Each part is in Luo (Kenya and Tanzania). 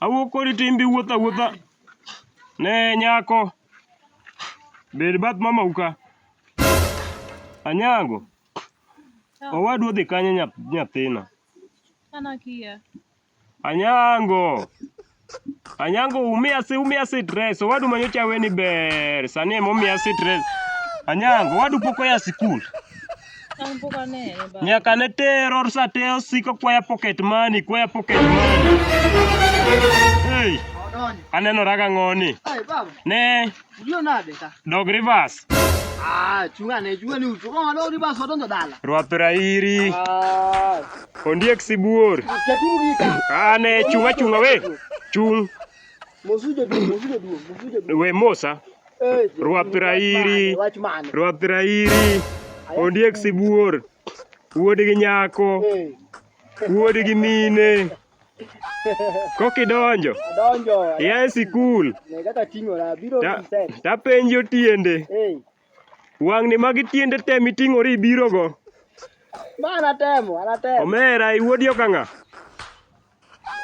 Awuok kodi to in be iwuotho awuotha ne nyako. Bed bath mamau ka. Anyango, owadu odhi kanye nyathina? An akia. Anyango. Anyango umia si umia stress. Owadu manyocha weni ber. Sani ema umia stress. Anyango, owadu pok oya sikul. An pok anene baba. Nyaka ne terror sa te osiko kwaya pocket money, kwaya pocket money. Hey, Odonjo. aneno raga ng'oni. Ai baba. Ne, Ndio nade ka. Dog reverse. Ah, chunga ne chunga ni utu. Kama dog reverse watonzo dala. Rwape rairi. Ah. Ondiek sibuor. Chatugi ka. Ah ne chunga chunga we. Chung. Mosujo du, mosujo du, mosujo du. We mosa. Eh. Rwape rairi. Rwape rairi. Ondiek sibuor. Wuod gi nyako. Eh. Wuod gi mine. Kokidonjo. Adonjo. Yae sikul. Ne kaka ting'ora biro reset. Tapenjo tiende. Hey. Wang'ni magi tiende te miting'ori ibirogo. Ma anatemo, anatemo. Omera iwuodi okang'a.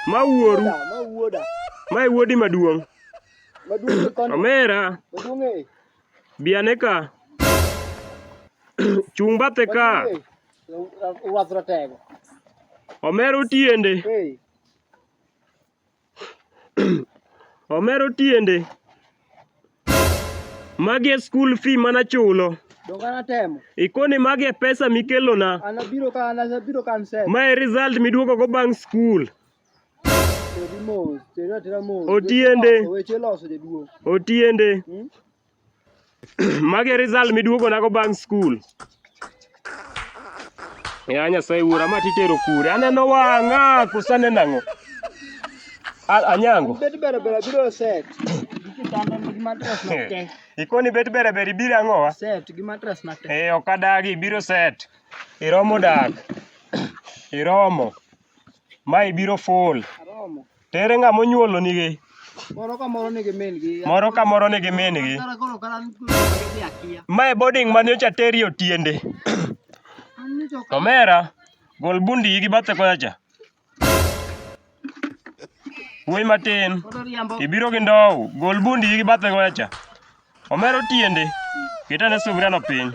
Ma wuoru. Ma wuoda. Ma iwuodi maduong'. Maduong' Omera. Maduong' e. Bi ane ka. Chung' bathe ka. Ruath ratego. Omero tiende. Hey. Omero tiende. Magi e school fee mana chulo. Donga natemo. Ikoni magi e pesa mikelona. Anabiro ka anabiro ka nse. Ma e result miduogo go bang' school. Otiende. Otiende. Hmm? Mage result miduogo nago bang' school. Ya Nyasaye wuora ma titero kure. Aneno wang'a kosa nenang'o. Anyango. Bet bere bere biro set. Ikoni bet bere bere ibiro ang'owa? Set gi mattress na te. Eh ok adagi ibiro set. Iromo dak. Iromo. Ma ibiro full. Aromo. Tere ng'a monyuolo nigi. Moro ka moro nigi min gi. Moro ka moro nigi min gi. Ma e boarding mane ocha teri otiende. Omera, gol bundi gi bathe koya cha. Wuoyi matin, ibiro gi ndow, gol bundi gi bathe koya cha. Omero tiende. Ket ane sufuriano piny.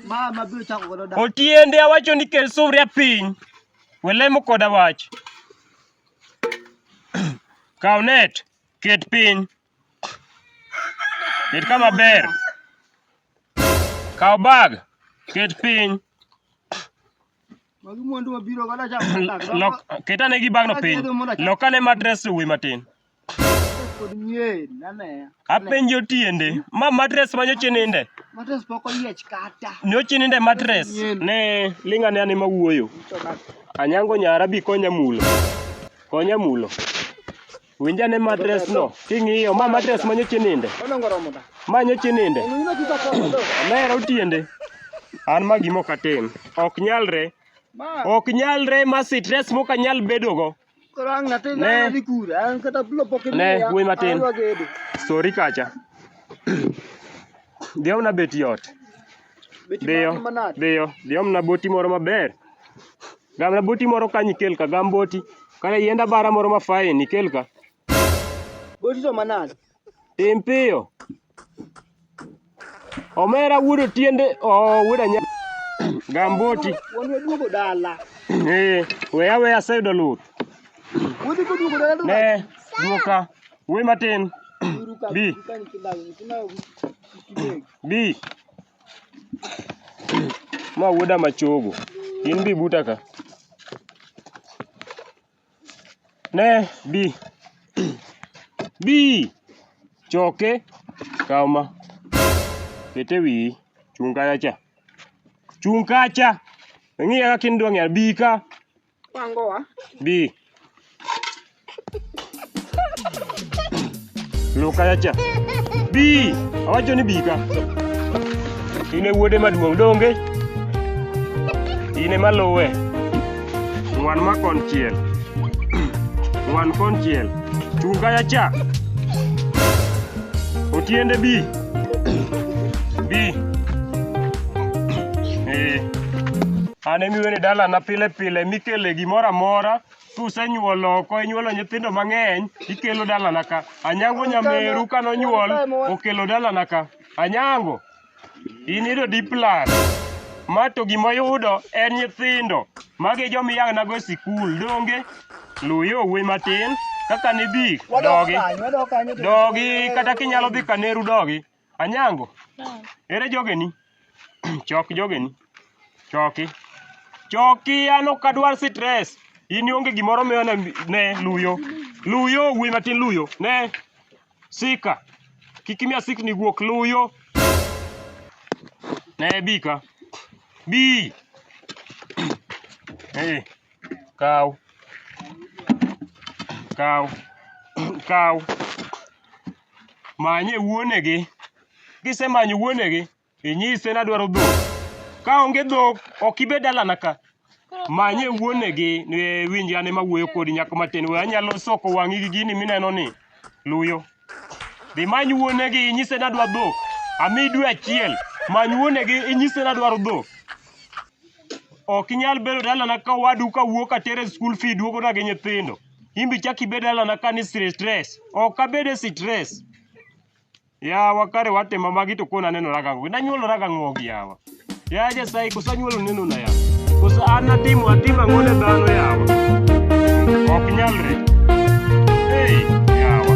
Mama biro chako godo dak. Otiende awacho ni kel sufuria piny. Welemo koda wach. Kaw net, ket piny. Ket kama ber. Kaw bag, ket piny. Magi mwandu mabiro godo chako godo dak. Lok, ket ane gi bagno piny. Lok ane matres uwi matin. Apenjo tiende. Ma matres ma nyoche ninde. Matres pok oyiech kata. Nyoche ninde matres. Ne linga ne anima wuoyo. Anyango nyara bi konya mulo. Konya mulo. Winja ne matres no. King'iyo ma matres ma nyoche ninde. Ma nyoche ninde. Mero tiende. An ma gimo katim. Ok nyalre. Ok nyalre ma stress mokanyal bedogo. wuoyi matin sori kacha dhi omna bet yot dhiyo dhiyo dhi omna boti moro maber gamna boti moro kanyo ikel ka gam boti kata yienda bara moro mafain ikel ka boti to manade Tim piyo. Omera wuod otiende oh, wuod anya gamboti. Wuon waduogo dala. Eh, weya weya aseyudo luth. Wuodhi koduogo dala to Ne, duoka. Wuoyi matin. uru ka Bi. ka nyithinda nyithinda kideg. Bi. Ma wuoda machogo. In bi buta ka. Ne bi. Bi! Choke, kaw ma. Ket e wiyi. Chung' kacha cha. Chung' kacha! Ing'iya kaka in dwa ng'eyo. Bi ka. Pangowa. Bi. Loo kaya cha. Bi, awacho ni bi ka. In e wuode maduong' donge? In ema luwe. Ng'wan ma konchiel. Ng'wan konchiel. Chung' kaya cha. Otiende bi. Bi. Eh. An emiwene dalana pile pile mikele gimoro amora kusenyuol oko inyuolo nyithindo mang'eny ikelo dalana ka anyango nyameru kane onyuol okelo dalana ka anyango in ido diplan ma to gima oyudo en nyithindo magi joma iyang'nago e sikul donge luw yo wuoyi matin kaka nidhi dogi dogi kata kinyalo dhi kaneru dogi Anyango, ere jogeni? Chok jogeni. Choki. Choki an ok adwar stress. In ionge gimoro miyo ne, ne luyo. Luyo wuoyi matin luyo. Ne. Sika. Kik imiya sikni guok luyo. Ne bi ka. Bi. Eh. Kaw. Kaw. Kaw. Manye wuonegi. Kisemanyo wuonegi, inyise ni adwaro dhok. Ka onge dhok, ok ibe dalana ka. Manye wuonegi, ni winj an ema awuoyo kodi nyako matin. We anyalo soko wang'i gi gini mineno ni luyo. Dhi many wuonegi, inyise ni adwa dhok. Ami dwe achiel, many wuonegi, inyise ni adwaro dhok. Ok inyal bedo dalana ka owadu ka wuok atere skul fi duogona gi nyithindo. in be ichak ibed alana ka ni stress. Ok abed e stress. Yawa kare watimo magi to koro nanenora gang'o. Nanyuolora gang'o gi yawa. Ya Nyasaye koso anyuolo nenona yawa. Koso an natimo atimo ang'o ne dhano yawa. Ok nyalre. Hey, yawa.